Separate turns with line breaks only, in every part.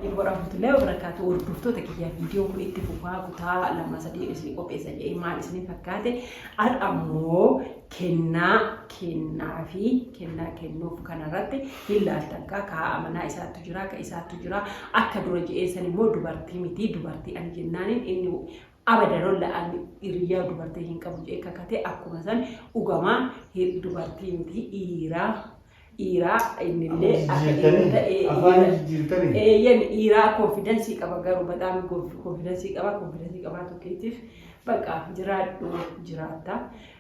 warahmatullahi wabarakatuh hordoftoota kiyyaa viidiyoon kun itti fufaa kutaa lama sadii isin qopheessa jedhee maal isin fakkaate al ammoo kennaa kennaa fi kennaa kennuuf kanarratti hin laaltan kaa kaa amanaa isaattu jira ka isaattu jira akka dura jedheessan immoo dubartii miti dubartii ani jennaaniin inni Abadan olla an iriyyaa dubartii hin qabu jee kakate akkuma san dhugamaa hi- dubartii miti dhiiraa dhiiraa innillee akka dhiira Jijjiirtanii? ta'e Afaan dhiira- jijjiirtanii? eeyyan dhiiraa konfidansii qaba garuu badaam konfidansii qaba konfidansii qabaa tokkeetiif baqa jiraadhu jiraatta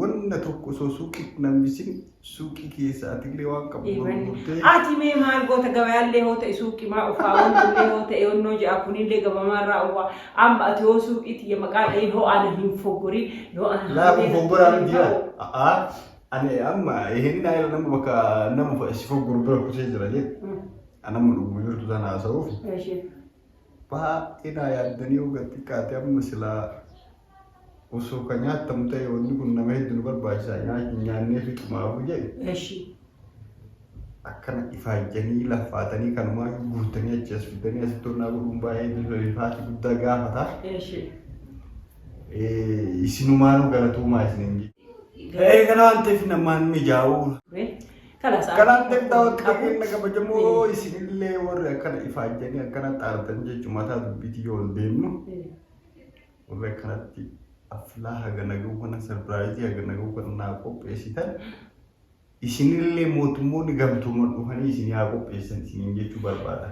wanna tokko osoo suuqiitti nan bisin suuqii keessa atillee waan qabu gurgurtee. Ati mee maal
goota gabayaallee hoo ta'e suuqimaa ufaa wannillee hoo ta'e onnoo ja'a kunillee gabamaa irraa uwwaa amma ati hoo suuqiitti ya maqaa dha'ee hoo ana hin foggori yoo ana Laafu foggoraa miti
yaa. A'aa. Ani amma hin naa irra nama bakka nama si fogguru bira kutee jira jee. Anamma dhuguma jirtu sana haasa'uuf. Ishee. baay'ee naa yaaddanii yoo gad xiqqaate amma silaa osoo kan nyaattamu ta'e wanni kun nama hedduu nu barbaachisa nyaa- nyaannee fixumaafu jedhe Eshi. akkana ifaajjanii laffaatanii kanumaa guutanii achi as fiddanii asitti onnaa godhuun baay'ee rifaati guddaa gaafata. Eshi. Eh, Isinumaanuu galatoomaa isinin jedhe. Ee kana waan ta'eef namaan mijaa'uu Wee. Kalaas Kalaas danda'a waan qabu. waaqayyoon na kabajamoo isinillee warri akkana ifaajjanii akkana xaartan jechuun mataa dubbiitti yoo ol deemnu warri akkanatti affilaa haga nagahuu kana sarpiraayizii haga nagahuu kana naa qopheessitan isinillee mootummoonni gamtooman dhufanii isin haa qopheessan isiniin jechuu barbaada.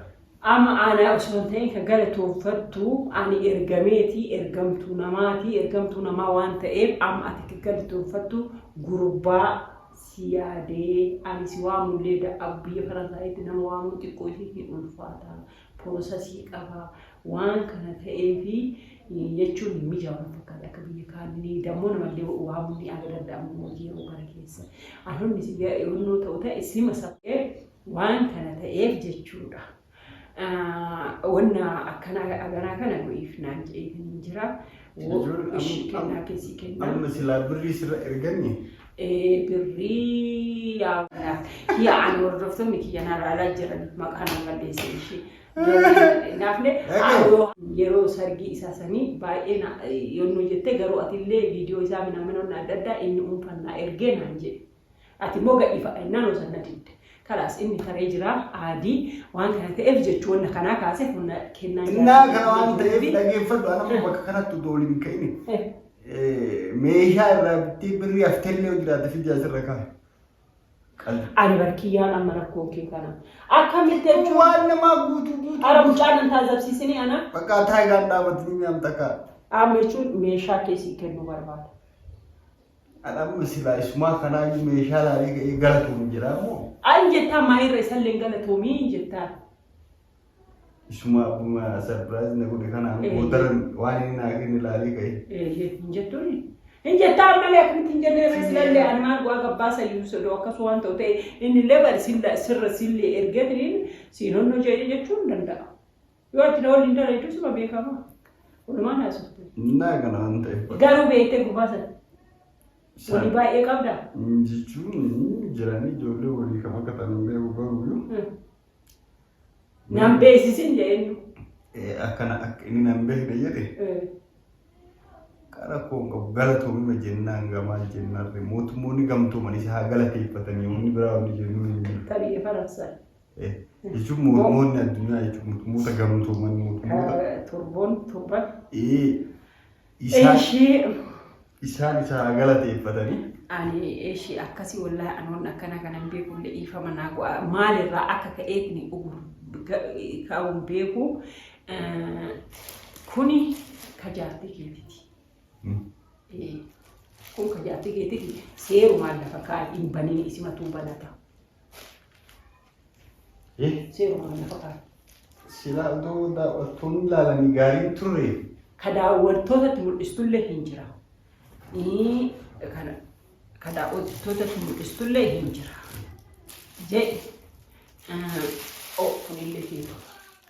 Amma aanaa
osoo hin ta'in kan galatooffattu ani ergameeti ergamtuu namaati ergamtuu namaa waan ta'eef amma ati kan galatooffattu gurbaa si yaadee ani si waamullee da'agu biyya faransaayitti nama waamuun xiqqoo isin hin ulfaata porosasii qaba waan kana ta'eefi jechuun hin mijaa'u na fakkaate akka biyya kaanii dammoo namallee waamuun ni aga danda'amu hojii yeroo kana keessa anonni si yeroo ta'u ta'e sima sabee waan kana ta'eef jechuudha. Wanna akkanaa aganaa kana godhiif naan jedheetaniin jira. Wo- Jechuun am- ishii kennaa am- keessii kennaa. amma silaa birrii sirra
erganne Ee, birrii
yaa yaa ani hordoftoonni kiyya na ilaalaa jiran maqaan an balleesse ishee. Naafne Dhagaye. yeroo sargii isaa sanii baay'ee na- yommuu jettee garuu atillee viidiyoo isaa minaa minoonni adda addaa inni uunfannaa ergee naan jedhe. Ati immoo gadhiifadha innaan osan na didde. Kalaas inni taree jira aadii waan kana ta'eef jechuun na kanaa kaasee humna kennaa jira. Innaa kana waan
ta'eef dhageeffadhu ana immoo bakka kanatti utuu waliin hin ka'ini. Eh, Meeshaa irraa bittee birrii hafteellee yoo jiraate fidii asirra kaa'i. Qalli.
Ani barkiyyaan amma rakkoo kee kana. Akkamitti jechuun Waan namaa guutuu
guutuu. ara mucaan nan
taasifsiisini ana Bakka taayilaan dhaabatanii
mi'aamta kaa'e. amma jechuun
meeshaa keessi kennuu barbaada.
An amma silaa isumaa kanaayyuu meeshaa laalee ga'ee galatoom jedhaa moo? An jettaa maayirra
isalleen galatoomii hin jettaa.
Isumaa akkuma sarpiraayiz na godhe kanaan Ee. boodarra waan inni naa kenne laalee ga'ee. Ee, hin jettuuni.
Hin jettaa ammallee akkamitti hin jennee irra silallee an maal bu'aa gabbaasa iyyuu sodoo akkas waan ta'u ta'e inni illee bari silla- sirra sillee ergetiniin siin honnoo jedhee jechuu hin danda'a. Yoo itti na waliin dhala jechuun suma beekama. Walumaan haasofte. Naa kana waan ta'eef.
Garuu beektee gurbaa
sana. Walii baay'ee qabda. Jechuun
jiranii ijoollee walii kam akka ta'an hin beeku garuu
yoo.
Nan beeksisin jedheenyu. Akkana akka inni nan beekne jedhe qara koo hin qabu galatoomima jennaan gamaa jennaan mootummoonni gamtoomanii si haa galateeffatanii wanni biraa wanni jennuun hin jiru. Tabi'ee faransaa.
Jechuun
mootummoonni addunyaa jechuun mootummoota gamtooman mootummoota. Turboon
turban.
Isaan isa galateeffatanii. Ani
ishii akkasii wallaahi anoon akkana kanan beekullee dhiifama naa go'a maalirraa akka ka'eetni ka'uun beeku kuni ka jaartii keetiti. Kun ka jaartii keetiti seerumaan lafa kaa'e hin banin isimatuu banata. Seeruma kana fakkaata. Silaa
utuu daawwattoonni ilaalanii gaariin turre. Ka daawwattootatti
mul'istullee hin jira. Ii, kana ka daawwattootatti mul'istullee hin jira. Jee, ah, oh, kunillee hin ta'u.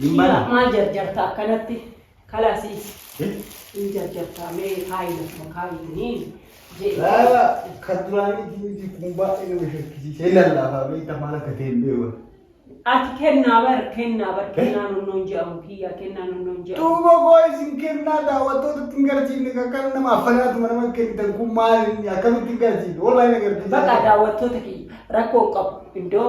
Hin bala. Maal jarjarta akkanatti kalasii hin jarjarta mee kaayi lafuma kaayi tuniin Laala
kan duraanii diinii kun baay'ee nama shakkisiisee lallaafaa beekta maal akka ta'e hin beeku. Ati
kennaa bar kennaa bar kennaa nonnoon jedhamu kiyya kennaa nonnoon jedhamu. Duuba koo isin
kennaa daawwattoota ittiin garsiifne kan kana nama affanaatuma nama kennitan kun maal inni akkamitti garsiifne wallahi na garsiisa. Baqa daawwattoota
kiyya rakkoo hin qabu iddoo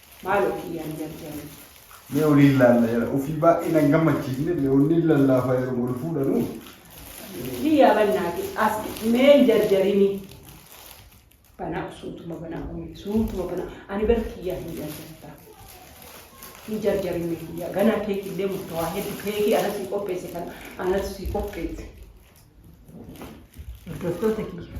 Maaloo kiyyaan jarjari. Mee waliin
laalla jara ofii baay'ee nan gammachiifne leewwanni lallaafa yeroo wal fuudhanu.
Kiyyaa bannaati as mee hin jarjarini. Banaa suutuma banaa umee suutuma banaa ani bara kiyyaa hin jarjarta. Hin jarjarin mee kiyyaa ganaa keekii illee murtawaa heddu keekii ana sii qopheesse kana ana sii qopheesse. Hordoftoota kiyya.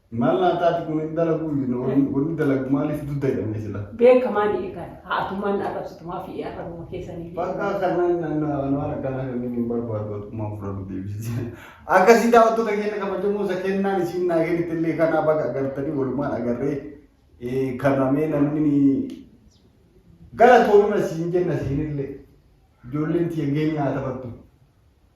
Maal naa taati
kun hin dalagu wanni dalagu maaliif dudda jedhamne sila. Beeka maali eegan
haatumaan arrabsitumaa fi arrabuma keessanii.
Bakka kanan naannoo akkanaa kanneen hin barbaadu atummaa fudhatu deebisisi. Akkasii daawwattoota keenya kabajamoo isa kennaan isiin naa kennitti illee kanaa baga agartanii walumaan agarree kanamee namni galatoomima siin jenna siinillee ijoolleen tiyyagee nyaata battu.